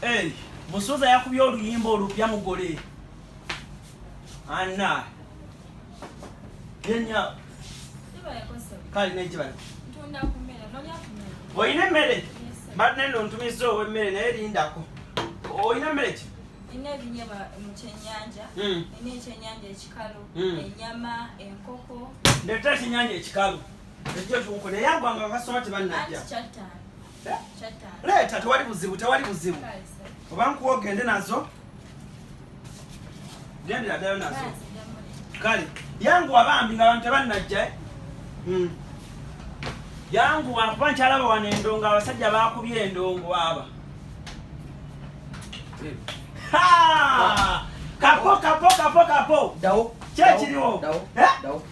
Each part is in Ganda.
Hey, musuza yakubye oluyimba olupya mugole anna yenya kali nekibala olina emmere mbadde nno ntumizza ow'emmere naye lindako olina emmere ki nina ebinyama mu kyenyanja hmm. nina ekyenyanja ekikalu hmm. enyama enkoko ndeta ekyenyanja ekikalu Ejja tuko naye agwa nga kasoma tebannajja. Leeta tewali buzibu tewali buzibu. Oba nkuwa ogende nazo. Gendera ddala nazo. Kale yangu abambi nga abantu tebannajja. Eh? Hmm. Yangu wakuba nkyalaba wano endongo abasajja bakubye endongo aba. Ha! Kapo kapo kapo kapo. Dawo. Kyekiriwo. Dawo. Eh? Dawo.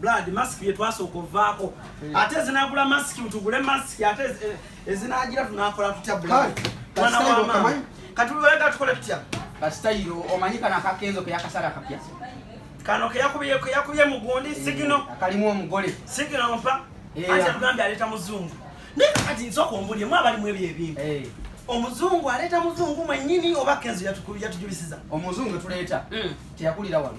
blood mask ye twasooka ovaako ate ezinagula mask tugule mask ate eh, ezinagira tunakola tutya blood mwana wa mama kati wega tukole tutya kasitayiro omanyi kana akakenzo ke yakasala kapya kano ke yakubiye ke yakubiye mugundi eh, sigino kalimu omugole sigino mpa eh, ate tugambye aleta muzungu naye kati nsooka ombulye mwe abali mu ebyo ebintu omuzungu aleeta muzungu mwennyini oba kenzo yatujubisiza omuzungu etuleeta hmm. teyakulira wano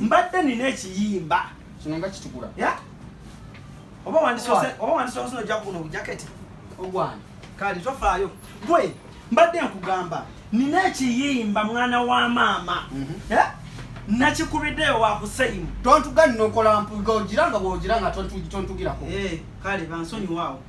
mbadde nina ekiyimba kino nga kitukula ya oba wandisose oba wandisose no jakuno bujaketi ogwani kali tofaayo gwe mbadde nkugamba nina ekiyimba mwana wa maama mm -hmm. ya nakikubiddeyo wakuseyimu tontuga nnokola mpuga ogira nga bwogira nga tontugirako hey, eh, kale bansonyiwaawo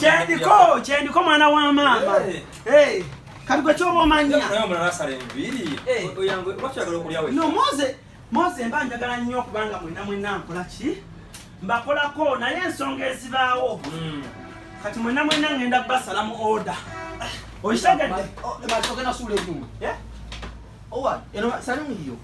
kyendiko kyendiko mwana wa maama kati gwe kyoba omanya no moze moze mba njagala nnyo okubanga mwena mwena nkola ki mbakolako naye ensonga ezibaawo hmm. kati mwena mwena ngenda basala mu oda okitegedde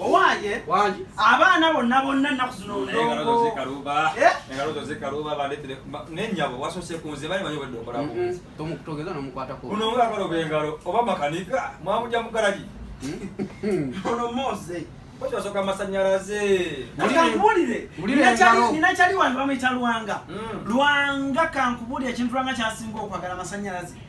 owaye abaana bonna bonna ennaku zino ndongonenyabo wasose kunze bali manyi obadde okolatomukutogeza mm-hmm. nomukwatako ono ngakala obengalo oba makanika mwamuja mugalagi mm-hmm. ono mose kyosoka amasanyalaze ninakyali wange bamuyita lwanga mm. lwanga kankubulire ekintu lwanga kyasinga okwagala amasanyalaze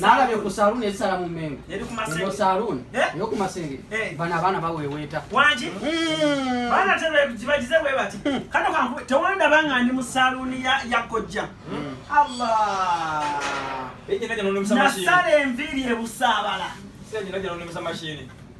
nalabye ku saluuni ezisala mu mengo eyo saluuni eyokumasengeri bano abaana baweweeta kibagize bwe bati kano kanku tewandaba nga ndi mu saluuni ya kojja nasala enviiri ebusaabala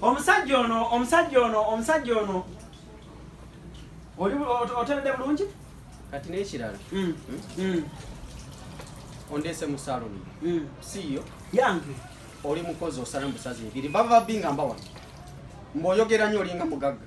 omusajja ono omusajja ono omusajja ono oteredde bulungi kati nekirala mm, mm. ondeese mu saloni mm. siiyo yange oli mukozi osala musazi ebiri bava binga mbawa mboyogera nyo olinga mugagga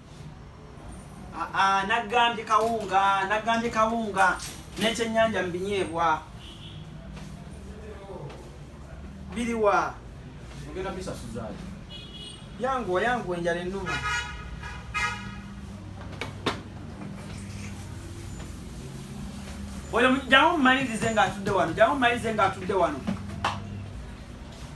naggambye kawunga naggambye kawunga n'ekyennyanja mu binyeebwa biriwa ogenda bisasuzaayo yanguwa yanguwa enjala ennuma oyo jamu mmalirize ng'atudde wano jamu mmalirize ng'atudde wano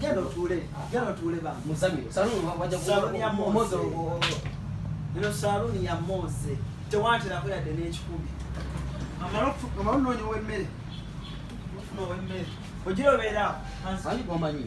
Genda otuule, genda otuule ba. Muzamiro, saluuni wajja kuwa. Saluuni ya Moze. Eno saluuni ya Moze. Tewanterako yadde n'ekikumi. Amala okunoonya ow'emmere. Ofuna ow'emmere. Ogira obeera awo. Ani gwomanyi?